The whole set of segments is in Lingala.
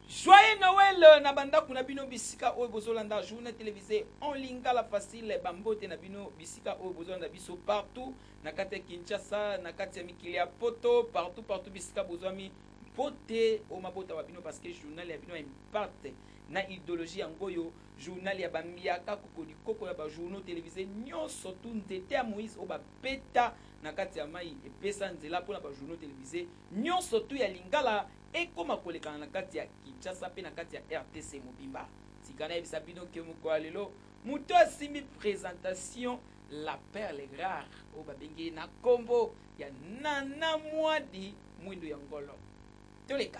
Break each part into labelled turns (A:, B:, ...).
A: Joyeux Noël euh, na bandako na bino bisika oyo bozolanda journée télévisée en lingala facile bambote na bino bisika oyo bozolanda biso partout na kati ya Kinshasa na kati ya mikili ya poto partout partout bisika bozwami mpote o mabota ma bino parce que journal ya bino ya impacte Na ideologie yango oyo, journal ya ba mbiaka, kokoli koko ya ba journaux televises nionso tout, nzete ya Moïse oyo ba beta na kati ya mayi epesa nzela mpo na ba journaux televises nionso tout ya lingala ekoma kolekana na kati ya Kinshasa mpe na kati ya rdc mobimba. Sika nayebisa bino que mokolo ya lelo, moto asimbi presentation la perle rare oyo babengi ye na kombo ya Nana Muadi Muindu ya Ngolo. Toleka.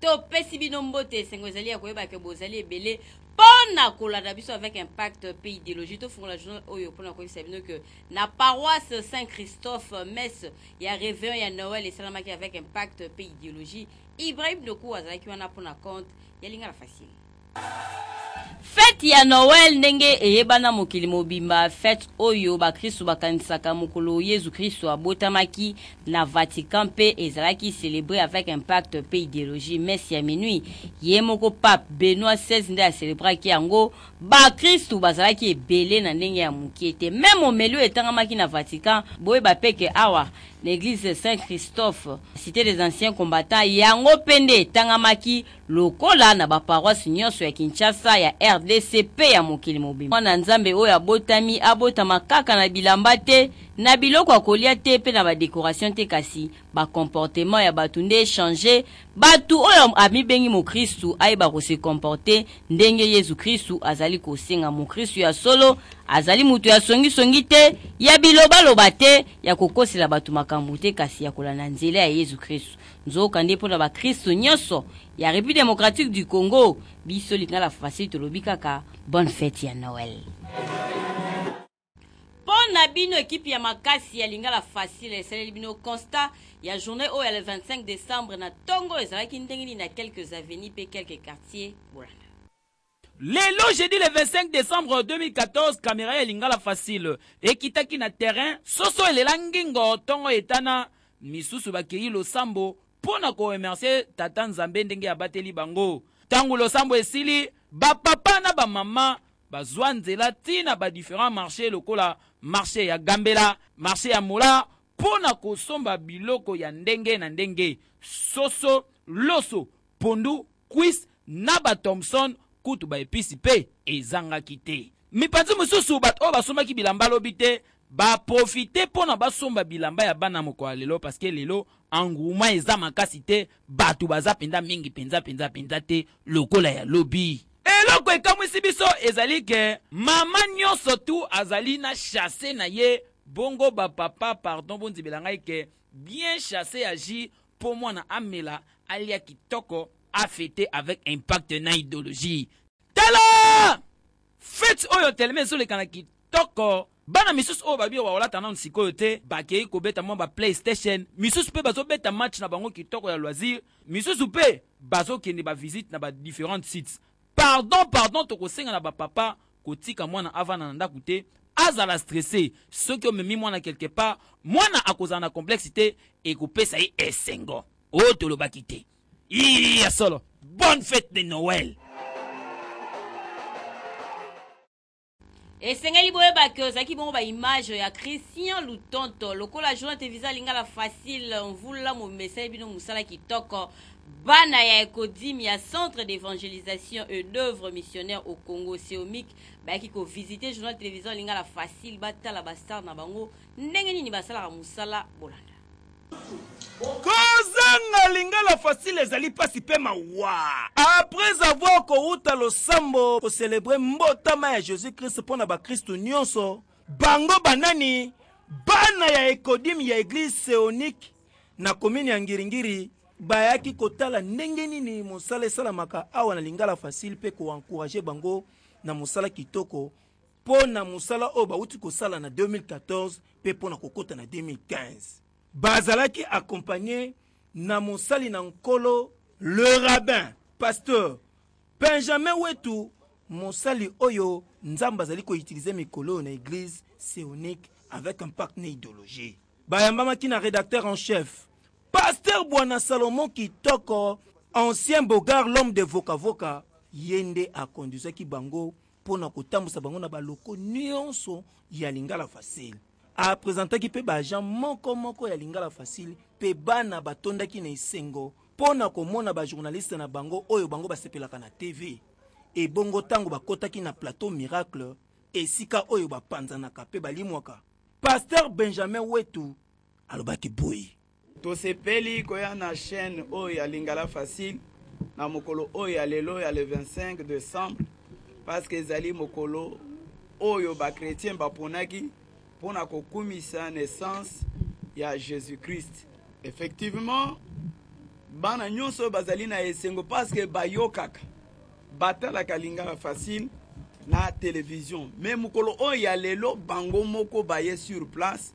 B: Topesi bino mbote, esengo ezali ya koyeba ke bozali ebele mpo na kolanda biso avec impact mpe ideologie. Tofungola journal oyo mpo na koyebisa bino ke na paroisse Saint Christophe messe ya réveillon ya Noël esalamaki avec impact mpe ideologie. Ibrahim Doku azalaki wana mpo na compte ya Lingala Facile. Fete ya Noel ndenge eyebana mokili mobimba, fete oyo bakristu bakanisaka mokolo Yezu Kristu abotamaki na Vatican mpe ezalaki celebrer avec impact mpe ideologie. Messe ya minuit, ye moko Pape Benoit xvi nde a celebraki yango, bakristu bazalaki ebele na ndenge ya mukie te. Meme homeli oyo etangamaki na Vatican, boyeba mpe que awa na eglise Saint Christophe, cite des anciens combattants, yango mpe nde etangamaki. lokola na ba paroisse nionso ya Kinshasa, ya rdc pe ya mokili mobimba. Mwana Nzambe oyo abotami, abotama kaka na bilamba te, na biloko ya kolia te pe na ba decorations te kasi ba comportements ya batu nde e changer batu. Oyo amibengi mokristu ayeba ko se comporter ndenge Yezu Kristu azali kosenga. Mokristu ya solo azali moto ya songi songi te, ya biloba loba te, ya kokosela batu makambo te kasi ya kolanda nzela ya Yezu Kristu. Nzokande mpo na bakristo nyonso ya Republique democratique du Congo, biso Lingala Facile tolobi kaka Bonne fete ya Noël. Mpo na bino, ekipi ya makasi ya Lingala Facile esaleli bino constat ya journee oyo ya le 25 decembre na tongo ezalaki ndenge nini na quelques avenues mpe quelques quartiers bolanda. Lelo
A: jeudi le 25 decembre 2014 camera ya lingala facile ekitaki na terrain, soso elela ngingo, tongo etana, misusu bakeyi losambo mpo na ko remercier tata Nzambe ndenge abateli bango. Tango losambo esili, ba papa na ba mama bazua nzela ti na ba differents marches lokola marche ya Gambela, marche ya Mola mpo na kosomba biloko ya ndenge na ndenge, soso, loso, pondu, Cuisse na ba Thomson kutu ba epices mpe ezangaki te. Mipanzi mosusu, bato oyo basombaki bilamba lobi te ba profiter mpo na basomba bilamba ya bana mokolo ya lelo parce que lelo engouement eza makasi te, bato baza mpenza mingi mpenza mpenza mpenza te lokola ya lobi. Eloko ekamwisi biso ezali que maman nionso tout azali na chasse na ye, bongo ba papa pardon bonzibela ngai que bien chasse agit po mwana amela alia kitoko a feter avec impact na idologie tala fete oyo telema ezoleka na kitoko bana misusu oyo babi bawalata nanu sikoyo te bakei kobeta mwa ba playstation misusu pe bazobeta match na bango kitoko ya loisir misusu pe bazokende ba visite na ba differentes sites pardon pardon tokosenga na ba papa kotika mwana avanda na ndaku te azala stresse soki omemi mwana quelque part mwana akozala na complexe te ekopesa ye esengo oyo oh, tolobaki te ii ya solo bonne fête de noël
B: esengeli boyeba ke ozalaki bongo baimage ya christian lutonto lokola jonathan visa lingala facile mvula momesai bino mosala kitoko Bana ya Ecodim ya Centre d'evangelisation et d'oeuvre missionnaire au Congo, CEOMIC, bayaki ko visiter journal television Lingala Facile batala ba stars na bango ndenge nini basalaka mosala. Bolanda. Kozanga
C: Lingala Facile ezali pasi pe mawa. Après avoir kowuta losambo ko celebrer mbotama ya Jesus-Christ mpo na bakristu nionso, bango banani? Bana ya Ecodim ya eglise CEONIC na komini ya ngiringiri bayaki kotala ndenge nini mosala esalamaka awa na lingala facile mpe koencourage bango na mosala kitoko mpo na mosala oyo bauti kosala na 2014 mpe mpo na kokota na 2015 bazalaki akompagne na mosali na nkolo le rabbin pasteur benjamin wetu mosali oyo nzambe azali koutilize mikolo oyo na eglise seonique avec impact na idologie Bayambamaki na redacteur en chef Pasteur Bwana Salomon Kitoko, ancien Beaugard l'homme de Voka Voka, ye nde a conduisaki bango mpo na kotambusa bango na ba locaux nionso ya Lingala Facile. A presentaki mpe ba agents moko moko ya Lingala Facile mpe bana batondaki na esengo mpo na komona ba journalistes na bango oyo bango basepelaka na TV. Ebongo tango bakotaki na plateau Miracle, esika oyo bapanzanaka mpe balimwaka, Pasteur Benjamin Wetu alobaki boye. Tosepeli
D: koya na chaine oyo ya Lingala Facile na mokolo oyo ya lelo ya le 25 decembre parce que ezali mokolo oyo ba chrétiens baponaki mpo na kokumisa naissance ya Jésus-Christ. Effectivement, bana nyonso bazali na esengo parce que bayokaka batalaka lingala facile na television me mokolo oyo ya lelo bango moko baye sur place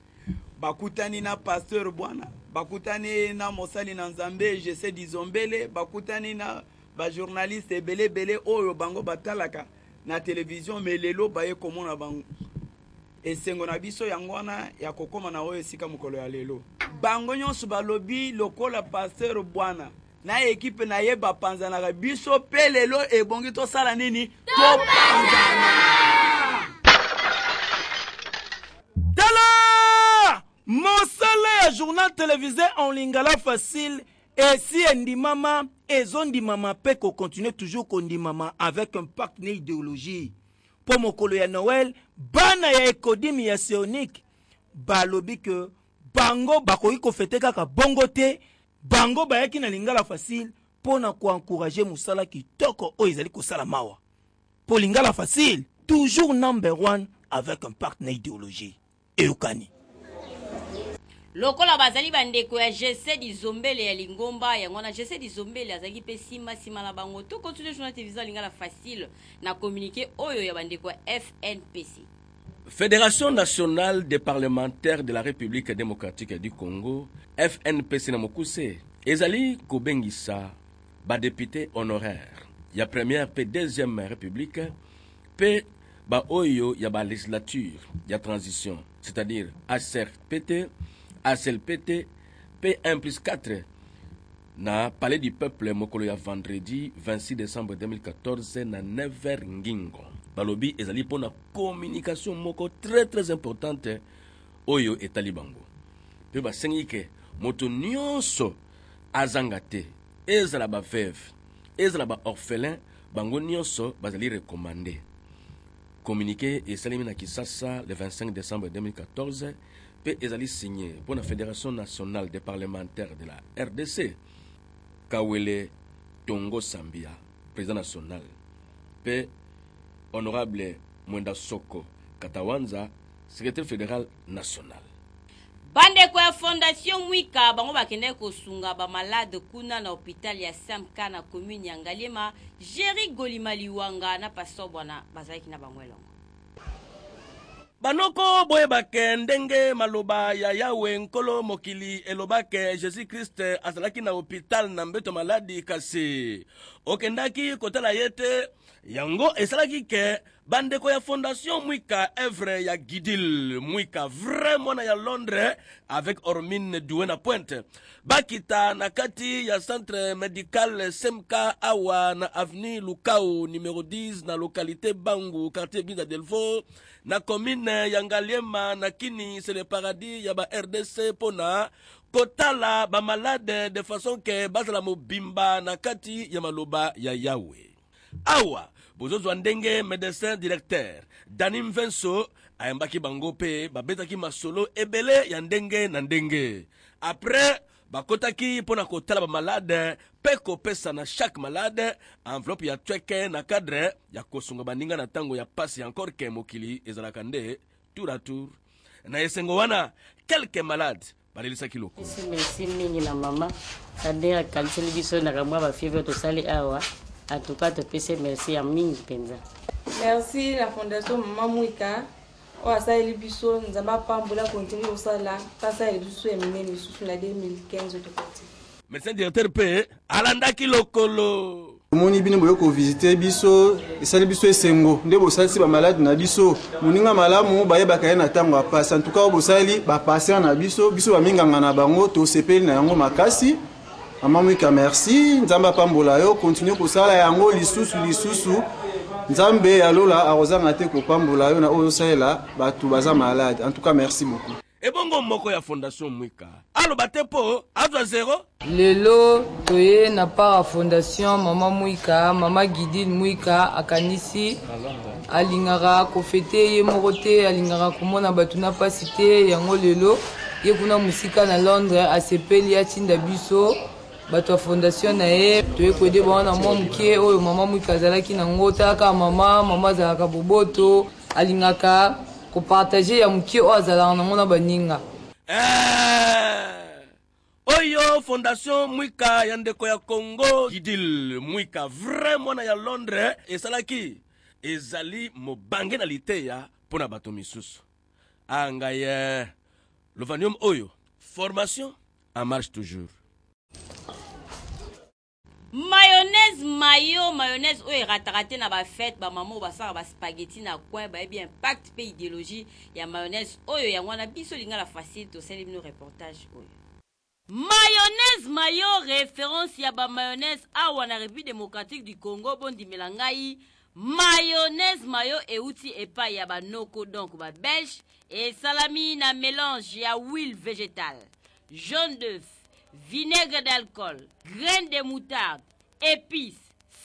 D: bakutani na pasteur bwana bakutani na mosali na nzambe jese dizombele bakutani na bajournaliste ebele ebele oyo bango batalaka na televizio me lelo baye komona bango esengo na biso yango wana ya kokóma na oyo esika mokolo ya lelo bango nyonso balobi lokola pasteur bwana na ekipe na ye bapanzanaka biso mpe lelo ebongi tosala nini topanzana
C: tala mosala ya journal televise en lingala facile esi endimama ezondimama mpe kocontinue toujours kondimama avec un pacte na ideologie mpo mokolo ya noel bana ya ekodimi ya seonike balobi ke bango bakoki kofete kaka bongo te Bango bayaki na lingala facile mpo na ko encourager mosala kitoko oyo ezali kosala mawa mpo lingala facile toujours number one avec un parc na ideologie eyokani.
B: Lokola bazali bandeko ya Jesse Dizombele ya lingomba yango wana, Jesse Dizombele azalaki mpe simba sima na bango. To continuer journal television ya lingala facile na communique oyo ya bandeko ya FNPC. Federation
E: nationale des parlementaires de la République démocratique du Congo, FNPC na mokuse, ezali kobengisa ba députés honoraires ya première pe deuxième république pe ba oyo ya ba legislature ya transition, c'est-à-dire ACRPT, ACLPT pe 1 plus 4 Na Palais du peuple mokolo ya vendredi 26 decembre 2014 na 9h ngingo. Balobi ezali mpo na communication moko très très importante oyo etali bango mpe basengi ke moto nyonso azanga te ezala ba veuve ezala ba orphelin bango nyonso bazali recommande. Communique esalemi na Kisasa le 25 decembre 2014 mpe ezali signe mpo na Federation nationale des parlementaires de la RDC. Kawele Tongo Sambia, president national, mpe honorable Mwenda Soko Katawanza, secretaire federal national. bandeko
B: ya fondation mwika bango bakendaki kosunga bamalade kuna na hôpital ya smk na commune ya ngaliema jerry golima liwanga na pasteur bwana bazalaki na bango elongo banoko
E: boyebake ndenge maloba ya yawe nkolo mokili elobake jesus krist azalaki na hopital na mbeto maladi kasi okendaki kotala ye te yango esalaki ke bandeko ya fondation mwika evre ya gidil mwika vrai mwana ya londres avec ormine due na pointe bakita na kati ya centre medical smk awa na avenue lukao numero 10 na localité bangu quartier binda delvaux na commune ya ngaliema na kini c'est le paradis ya ba rdc mpo na kotala bamalade de façon ke bazala mobimba na kati ya maloba ya yawe Awa bozozwa ndenge medecin directeur Dani Mvenso ayambaki bango mpe babetaki masolo ebele ya ndenge na ndenge après bakotaki mpo na kotala bamalade mpe kopesa na chaque malade enveloppe ya tweke na cadre ya kosunga baninga na ntango ya mpasi encore ke mokili ezalaka nde tour à tour na esengo wana quelques malades balelisaki lokolo. Esi merci mingi na
F: mama Kader akaniseli biso na kamwa ba fieve tosali awa en tout cas topesi merci ya mingi mpenza. Merci
G: la fondation Mama Mwita oyo asaleli biso Nzambe apambola continue kosala mpe asaleli biso ya minene lisusu na 2015 tokoti. Medecin directeur
E: mpe alandaki lokolo. omoni bino boye
H: kovisite biso esali biso esengo nde bosalisi bamalade na biso moninga malamu bayebaka ye na ntango ya mpasi antuka oyo bosali bapatient na biso biso baminganga na bango tosepeli na yango makasi mama mwika merci nzambe apambola yo kontinue kosala yango lisusu lisusu nzambe ya lola akozanga te kopambola yo na oyo osalela bato baza malade antuka merci beaucoup ebongo moko ya
E: fondation mwika aloba te po azwa zero lelo
I: toye na para fondation mama mwika mama gidil mwika akanisi alingaka kofete ye moko te alingaka komona bato na mpasi te yango lelo ye kuna mosika na londres asepeli atinda biso bato ya fondation na ye toye koyede bango na mwa moke oyo mama mwika azalaki na ngo talaka mama mama azalaka boboto Alingaka ko partager ya mukie oyo azalaka nango na ba ninga. Eeh!
E: Oyo fondation Mwika ya ndeko ya Congo. Gidil Mwika vrai mwana ya Londres esalaki ezali mobange na liteya mpo na bato misusu. Ah ngai eh! Lovanium oyo formation en marche toujours.
B: mayonnaise mayo mayonnaise oyo erataka te na bafete bamama oyo basalaka baspageti na coin bayebi impact mpe ideologie ya mayonnaise oyo yango wana biso lingala facile tosali bino reportage oyo mayonnaise mayo reference ya bamayonnaise awa na république démocratique du congo bondimela ngai mayonnaise mayo euti epai ya banoko donc babelge esalami na mélange ya huile végétale jaune d'œuf, vinaigre d'alcool, graine de moutarde, épices,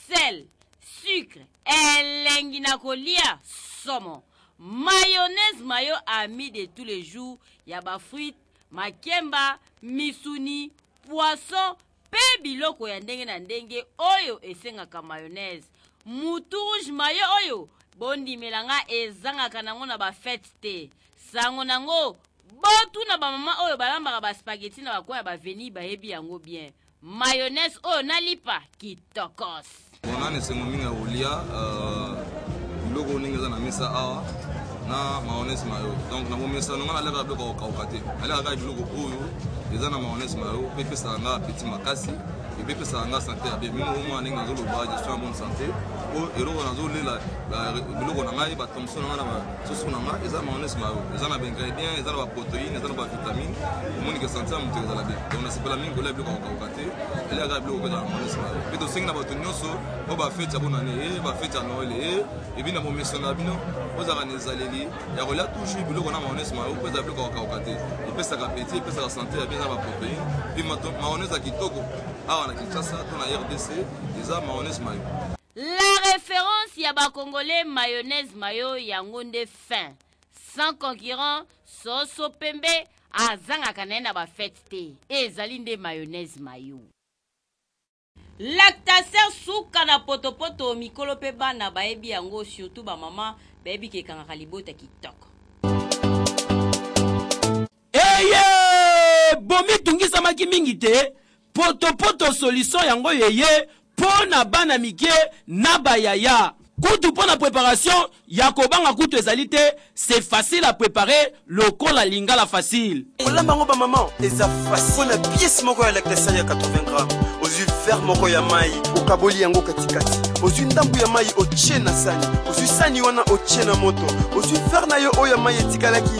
B: sel, sucre, elengi na kolia somo. Mayonnaise mayo ami de tous les jours ya ba fruits, makemba, misuni, poisson, mpe biloko ya ndenge na ndenge oyo esengaka mayonnaise. Mutu rouge mayo oyo bondimela nga ezangaka nango na ba fetes te. Sango nango botuna ba maman oyo balambaka ba spaghetti na ba coin ya ba avenue bayebi yango bien. Mayonnaise oyo na lipa kitoko. tokos bona na esengo
J: mingi ya kolia euh, biloko oyo ndenge eza na mesa awa na mayonnaise mayo donc na bomesano ngai nalekaka biloko ya kokauka te nalekaka kaka biloko oyo eza na mayonnaise mayo mpe epesaka ngai apeti makasi epe epesaka ngai sante ya bien mimi omona ndenge nazoloba gestion ya bonne sante po eloko nazolela biloko na ngai batomso na ngai na basusu na ngai eza mayonnaise mayo eza na baingredient eza na baproteine eza na bavitamine omoni ke sante ya moto ezala bien donc nasepela mingi kolia biloko ya kokauka te ezali kaka biloko kozala monisma mpe tosengi na bato nyonso oyo bafeti ya bonane e eh, bafeti ya noele e eh, ebi na bomesano na bino ozalaka na ezaleli ya kolia toujours biloko na maonese mayo mpo ezala biloko kakauka te epesaka peti epesaka sante ya bieza baproteine mpe maonese ya kitoko awa na kinshasa to na rdc eza maonese mayo la
B: référence ya bacongolais mayonnaise mayo yango nde fin sans concurrent soso pembe azangaka na ye na bafete te ezali nde mayonnaise mayo lactaser suka na potopoto mikolo mpe bana bayebi yango surtout bamama bayebi ke ekangaka libota kitoko Eye!
A: Bomitungisamaki mingi te, potopoto solution yango eye po na bana mike na ba yaya. Kutu po na preparation ya kobanga kutu ezali te, c'est facile à preparer lokola lingala facile. Kolamba yango ba maman
C: eza facile. Po na pièce moko ya lactacial ya 80 grammes, ozwi verre moko ya mayi, okaboli yango katikati, ozwi ndambu ya mayi otie na sani, ozwi sani wana otie na moto, ozwi verre na yo oyo ya mayi etikalaki,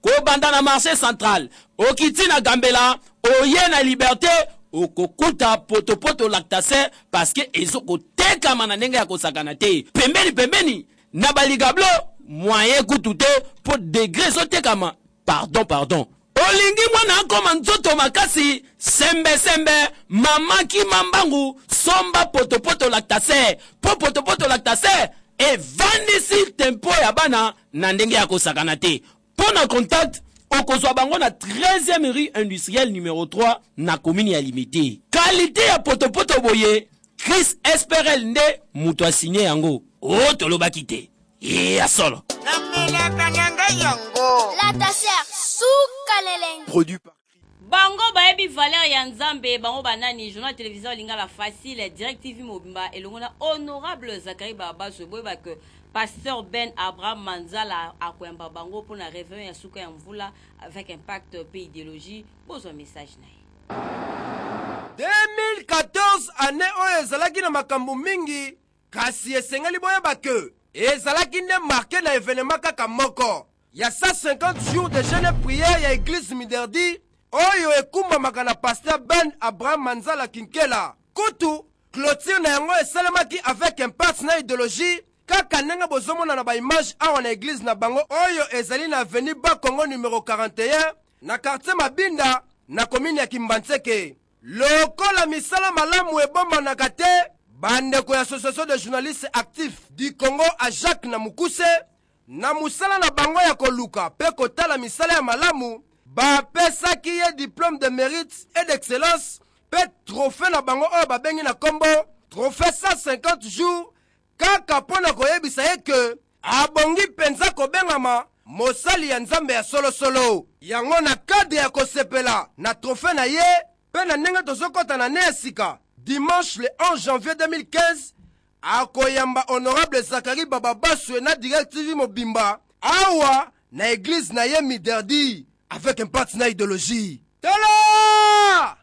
A: Kobanda na marche central, okiti na Gambela, oye na liberte, okokuta potopoto lactace parce que ezo kotekama na ndenge ya kosakana te. Pembeni pembeni na baligablo moyen kutu te po degre ezotekama. Pardon pardon. Olingi mwana akoma nzoto makasi sembe sembe mama kima mbangu somba potopoto lactace po potopoto lactace evandisi tempo ya bana na ndenge ya kosakana te mpo na contact okozwa bango na 13e rue industrielle numero 3 na komini ya limete kalite ya potopoto boye chris esperel nde moto asigne yango o oh, tolobaki te ye ya solo namelaka na ngai yango
K: lataser suka lelenge
L: Bango bayebi
B: valeur ya Nzambe, bango ba nani? Journal de television ya lingala facile, Direct TV mobimba elongo na Honorable Zacharie Barabazwe boyeba que Pasteur Ben Abraham Manzala akoyamba bango mpo na réveillon ya suka ya mvula avec impact mpe ideologie. Bozwa message na ye. 2014
L: annee oyo ezalaki na makambo mingi kasi esengeli boyeba que ezalaki nde marke na evenement kaka moko ya 150 jours de jeune et prière ya eglise miderdi oyo ekumbamaka na pasteur ben abraham manzala kinkela kutu clotire na yango esalemaki avec impasse na idéologie kaka ndenge bozomona na baimage awa na eglise na bango oyo ezali na avenue ba congo numero 41 na quartier mabinda na komini ya kimbanseke lokola misala malamu ebombanaka te bandeko ya association de journaliste actif du congo a jacques na mokuse Na mosala na bango ya koluka mpe kotala misala ya malamu, bapesaki ye diplome de merite et d'excellence mpe trophee na bango oyo babengi na nkombo trophee 150 jours kaka mpo na koyebisa ye ke abongi mpenza kobengama mosali ya Nzambe ya solosolo. Yango na cadre ya kosepela na trophee na ye mpe na ndenge tozokota na annee ya sika, dimanche le 11 janvier 2015, akoyamba honorable Zachary Bababaswe na Direct TV mobimba awa na eglise na ye Miderdi avec impact na ideologie. Tala!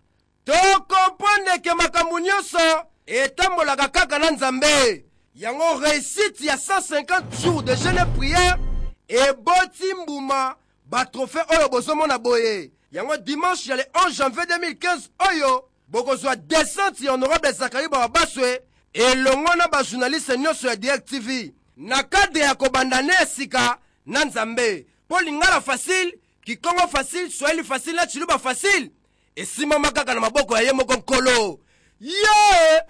L: Tokomprendre ke makambo nyonso etambolaka kaka na Nzambe. Yango réussite ya 150 jours de jeûne et prière eboti mbuma ba trophée oyo bozomona boye. Yango dimanche ya le 11 janvier 2015 oyo bokozwa descente ya honorable Zachary Barabaswe elongo na ba journaliste nyonso ya Direct TV na cadre ya kobanda ne ya sika na Nzambe mpo lingala facile kikongo facile swahili facile na chiluba facile esimbama kaka na maboko ya ye moko nkolo ye yeah!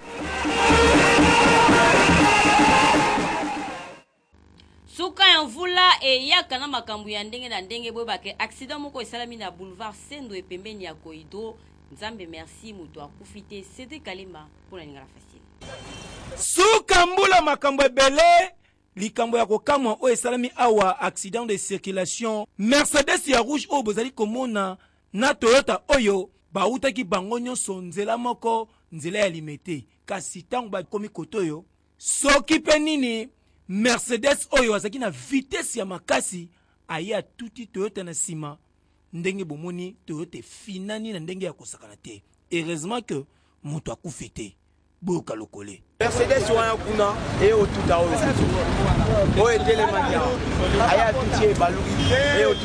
B: Suka ya mvula eyaka na makambo ya ndenge na ndenge boyeba ke accident moko esalami na boulevard Sendwe epembeni ya Cohydro Nzambe merci moto akufi te Cedric Kalemba mpo na lingala facile. Suka
C: mbula makambo ebele likambo ya kokamwa oyo esalami awa accident de circulation Mercedes ya rouge oyo bozali komona na Toyota oyo bawutaki bango nionso nzela moko nzela ya Limete kasi tango bakomi kote oyo soki mpe nini mercedes oyo azalaki na vitese ya makasi aye atuti toyota na nsima ndenge bomoni toyota efinani na ndenge ya kosakana te heureusement que moto akufi te boyoka lokole mercedes wana
L: kuna eye otuta oyo oyo etelemaki awa aye atuti ye ebaluki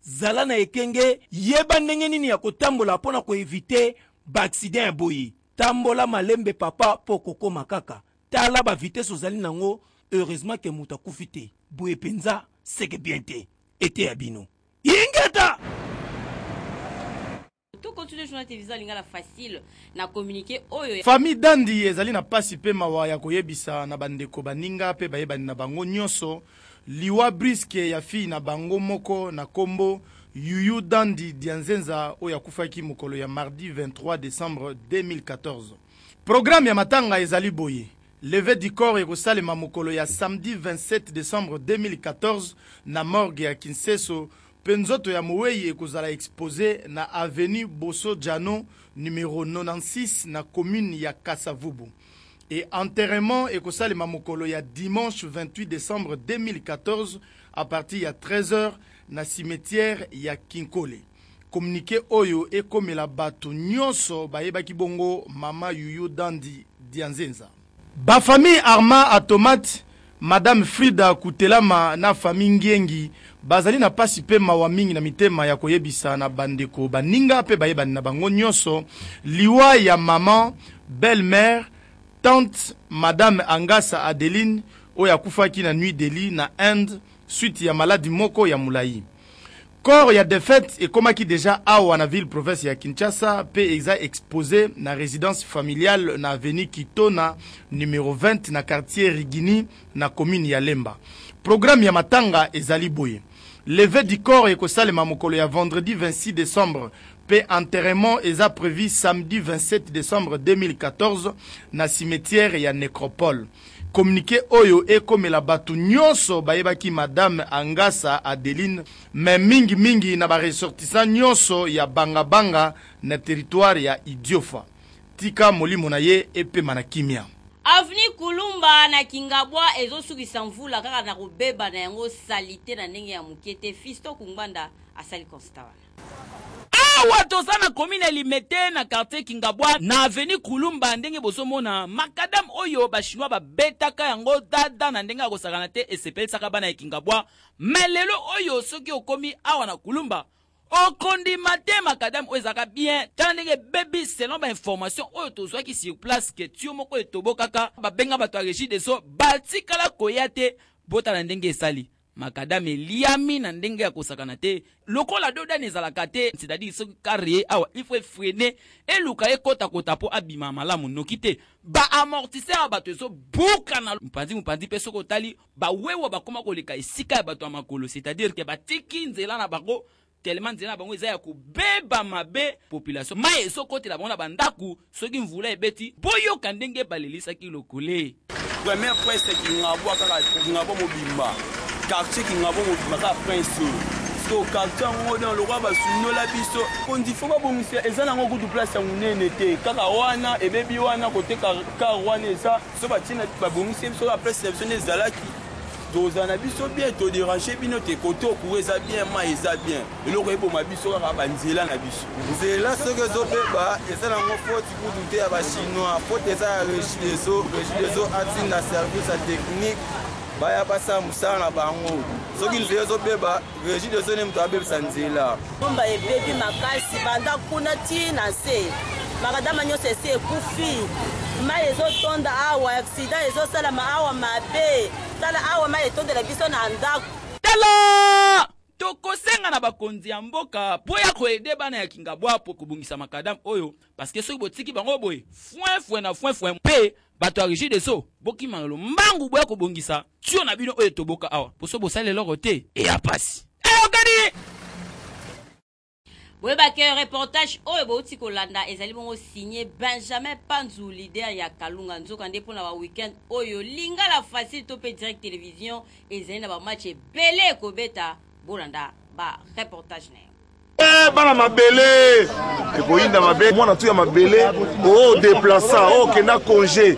C: Zala na ekenge, yeba ndenge nini ya kotambola mpo na ko eviter ba accidents ya boye. Tambola malembe papa mpo okokoma kaka. Tala ba vitesses ozali na yango, heureusement que moto akufi te. Boye penza seke bien te. Eteya bino. Ingeta!
B: To continue journal te visa lingala facile na communiquer oyo ya... Famille Dandi ezali
M: na pasi mpe mawa ya koyebisa na bandeko, baninga mpe bayebani na bango nionso liwa brusque ya fille na bango moko na kombo Youyou Dandi Dianzenza oyo akufaki mokolo ya mardi 23 decembre 2014. Programme ya matanga ezali boye, levee du corps ekosalema mokolo ya samedi 27 decembre 2014 na morgue ya Kinseso pe nzoto ya moweyi ekozala expose na avenue Boso Djano numero 96 na commune ya Kasa Vubu et enterrement ekosalema mokolo ya dimanche 28 decembre 2014 à partir ya 13 heures na cimetière ya Kinkole. Communique oyo ekomela batu nionso bayebaki bongo mama Youyou Dandy Dianzenza. Ba famille Arma Atomate, Madame Frida Kutelama na famille Ngiengi bazali na pasi mpe mawa mingi na mitema ya koyebisa na bandeko, baninga mpe bayebani na bango nionso liwa ya maman, belle mère, tante, Madame Angasa Adeline oyo akufaki na New Delhi, na Inde, suite ya maladi moko ya mulayi. Corps ya defunte ekomaki dejà awa na ville province ya Kinshasa mpe eza expose na residence familiale na avenue Kitona numero 20 na quartier Rigini na commune ya Lemba. Programme ya matanga ezali boye, levee du corps ekosalema mokolo ya vendredi 26 decembre mpe enterrement eza prevu samedi 27 decembre 2014 na cimetière ya Necropole. Communique oyo ekomela batu nionso bayebaki Madame Angasa Adeline mais mingi mingi na ba ressortissants nionso ya Banga Banga na territoire ya Idiofa. Tika molimo na ye epema na kimia. Avenue
B: Kulumba na Kingabwa ezo sukisa mvula kaka na kobeba na yango salite na ndenge ya muke te, Fiston Kungbanda asali constat wana. Awa
A: toza na commune ya Limete na quartier Kingabwa na avenue Kulumba ndenge bozo mona macadam oyo ba chinois ba betaka yango dada na ndenge ya kosakana te esepelisaka bana ya Kingabwa mais lelo oyo soki okomi awa na Kulumba okondima te macadam oyo ezalaka bien tala ndenge ebebi selon ba information oyo tozwaki sur place que tuyau moko etobokaka babenga bato ya regie des eaux batikala koya te botala ndenge esali Macadam eliami na ndenge ya kosakana te lokola dodane ezalaka te c'est à dire soki car ye awa il faut efrene eluka ekota kota po abima malamu noki te ba amortisseur ya bato ezo buka na mopanzi mopanzi pe soki otali ba wewa bakoma koleka esika ya bato ya makolo c'est à dire que batiki nzela na bango tellement nzela na bango eza ya kobeba mabe population mai ezokotela bango na bandako soki mvula ebeti boyoka ndenge balelisaki lokole premier prince
N: kingabo kaka kingabo mobimba quartier kingabo mobimba kaka prince oyo so quartier yango na lokola basundola biso konzi fo babongisa eza nango kutu place ya monene te kaka wana ebebi wana koteka kar wana eza so batina babongisi biso kaka place na biso nde ezalaki Toza na biso bien to déranger bino te koto courant eza bien mai eza bien eloko eboma biso kaka ba nzela na biso nzela soki ezobeba eza nango foti kutu te ya ba chinois foti eza ya regideso regideso atinda service ya technique baya basala mosala na bango soki nzela ezobeba Regie de son moto abebisa nzela. Bomba ebebi
O: makasi banda kuna ti na se. Makadama nyonso esi ekufi. Mai ezotonda awa, accident ezosalama awa mabe. Tala awa mai etondela biso na ndako. Tala!
A: Tokosenga na bakonzi ya mboka mpo ya koede bana ya Kingabwa mpo kobongisa makadam oyo parce que soki botiki bango boye fwenfwe na fwenfwe mpe bato ya regideso bokima lombangu boya kobongisa tio na bino oyo etoboka awa poso bosali eloko te eya pasi eyokani eh,
B: boyeba ke reportage oyo bouti kolanda ezali bongo signe benjamin panzu leader ya kalunga nzoka nde mpo na baweekend oyo lingala facile to mpe direct télévision ezali na bamatch ebele ekobeta bolanda bareportage na ye Eh, bana mabele
P: ekoyinda mabe mwana tu ya mabele o deplaça o kenda congé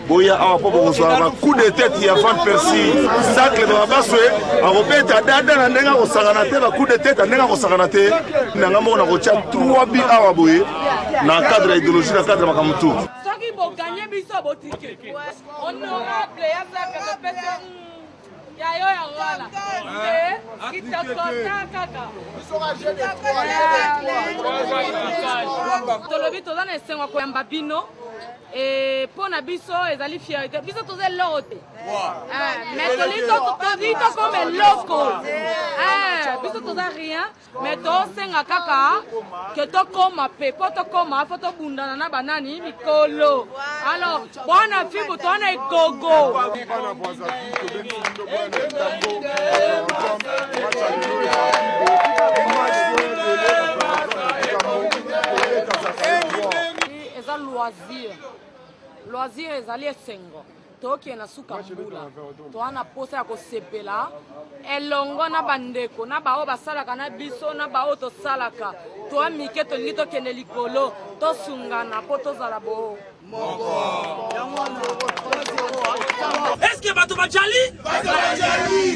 P: boya awa mpo bokozwa bacoup de tete ya van persi sacle baba baswe akobeta dada na ndenge akosangana te bacoup de tete ya ndenge akosangana te nanga moko nakotya 3 bi awa boye na cadre ya idéologie na cadre ya makambo tu soki boganye
Q: biso botike honorable ya sacle topese Ya yo ya wana. Eh, kitokota kaka. Tolobi toza na esengo ya koyamba bino. Eh, mpo na biso ezali fierté biso toza eloko te eh, mais tolii tokoma eloko eh, biso toza rien mais tosenga kaka ke tokoma mpe mpo tokoma mpo tobundana na banani mikolo alors bwana fimbu towana egogo eza loisir loisir ezali esengo tokee na suka mbula toa na mposa ya kosepela elongo na bandeko na baoyo basalaka na biso na baoyo tosalaka toa mike tolingi tokende likolo tosungana mpo tozala boo
L: eske bato bajali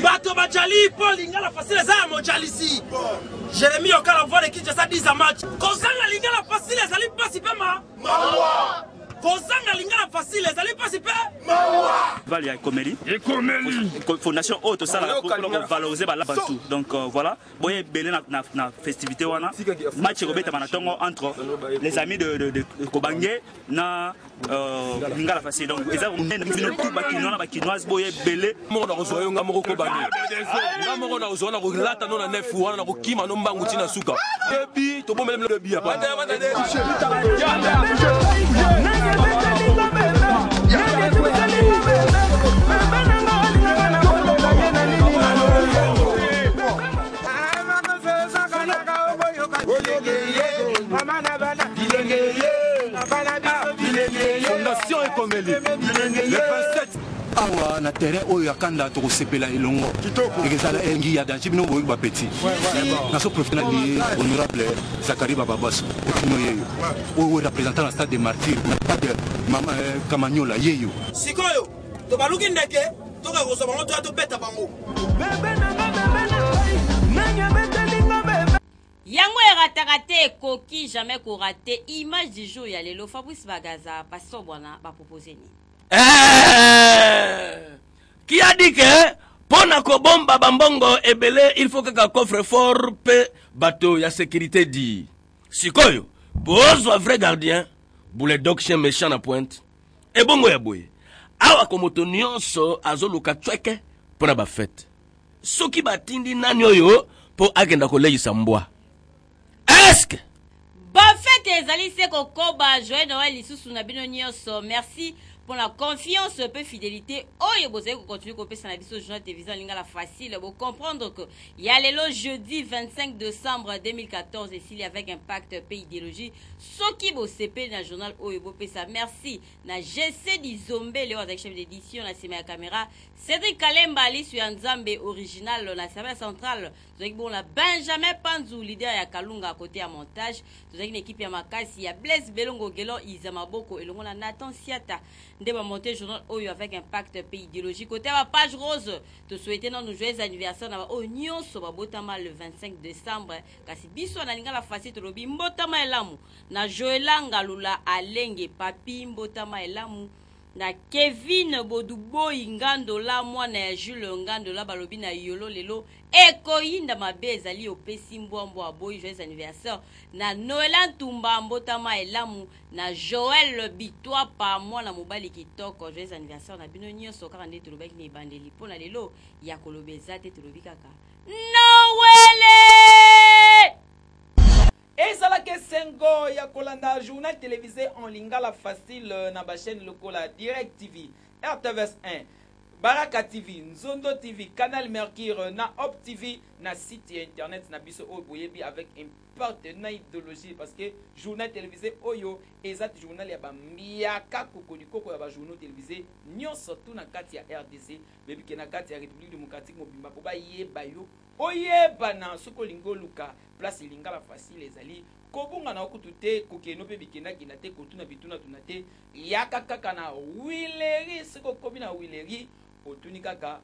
L: bato bajali mpo lingala fasile eza ya mojalisi jeremi okala voile kinshasa 10 match kozanga lingala fasile ezali mpasi mpe ma kozanga lingala facile ezali mpasi mpe mawa val ya ekomeli
R: ekomeli fondation oyo tosalaka ah, mpona kovalorize balabantu donc euh, voilà boye ebele na festivité wana match ekobetama na ntongo entre les amis de kobange na euh, lingala facile donc eza bino tout bakinois na bakinoise boye ebele moko na kozwa yo nga moko
S: kobani nga moko na kozwa na kolata no na nef wana na kokima no mbangu ntina suka ebi tobomeli ebi apa awa na terrain oyo ya kanda tokosepela elongo ekezala engi ya danci bino boyoki bapeti naso profite na liye honorable zakari bababaso okino yeyo oyo representant na stade de martyr na stade eh, kamanyola yeyo sikoyo
L: tobaluki ndeke toka kozwa bango toya tobeta bango
B: yango erataka te ekoki jamais korate image du jour ya lelo fabrice bagaza pastor bwana bapropose nini eh,
E: qui a dit que mpo na kobomba bambongo ebele il faut kaka coffre fort mpe bato ya sécurité di sikoyo bozwa vrai gardien bule doction méchant na pointe ebongo ya boye awa ko moto nyonso azoluka cweke mpo na bafete soki batindi nani oyo mpo akenda koleisa mbwa eske
B: bafete ezali se kokoba joye noel lisusu na bino nyonso merci mpo na confiance mpe fidelité oyo bozali kocontinue kopesa na biso journal télévision lingala facile bocomprendre que ya lelo jeudi 25 décembre 2014 esili avec impact mpe idéologie soki bosepeli na journal oyo bopesa merci na gc dizombe leo azali chef d'édition na nsima ya caméra cédric kalemba lisu ya nzambe original na service central tozalaki bongo na benjamin panzu leader ya kalunga kote ya montage tozalaki na ekipe ya makasi ya blaise belongo gelon iza maboko elongo na nathan siata nde bamonte journal oyo avec impact mpe ideologie kote ya bapage rose tosouete nano joyeux anniversaire na baoyo nyonso babotama le 25 décembre kasi biso na lingala fasi tolobi mbotama elamu na joela ngalula alenge papi mbotama elamu Na Kevin boduboyi ngandola mwana ya Jules ngandola balobi na yolo lelo ekoyinda mabe ezali opesi mbwa mbwa aboyi joyeux anniversaire na Noella Ntumba mbotama elamu na Joël Bituapa mwana mobali kitoko joyeux anniversaire na bino nyoso kaka nde tolobaki na ebandeli mpo na lelo ya koloba eza te tolobi kaka Noele!
A: Ezalaka esengo ya kolanda journal televise en lingala facile na ba chaines lokola Direct TV, RTVS 1, Baraka TV, Nzondo TV, Canal Mercure na Hope TV na site ya internet na biso oyo boyebi avec impact na idologie parce que journal televise oyo eza journal ya bambiaka kokolikoko ya bajournaux televise nyonso tu na kati ya RDC bebike na kati ya République démocratique mobimba mpo bayeba yo Oyebana soki olingi oluka place lingala facile ezali kobunga na yo kutu te kokeno pe bikenda kenda te kotuna bituna tuna te yaka kaka na huilerie soki okomi na huilerie otuni kaka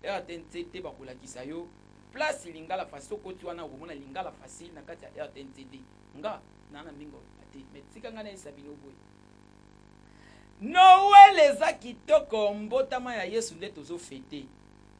A: rtnc te bakolakisa yo place lingala facile soki okoti wana okomona lingala facile na kati ya rtnc te nga na na mingi oloba te mais tika nga na yesa bino boye noel eza kitoko mbotama ya yesu nde tozo fete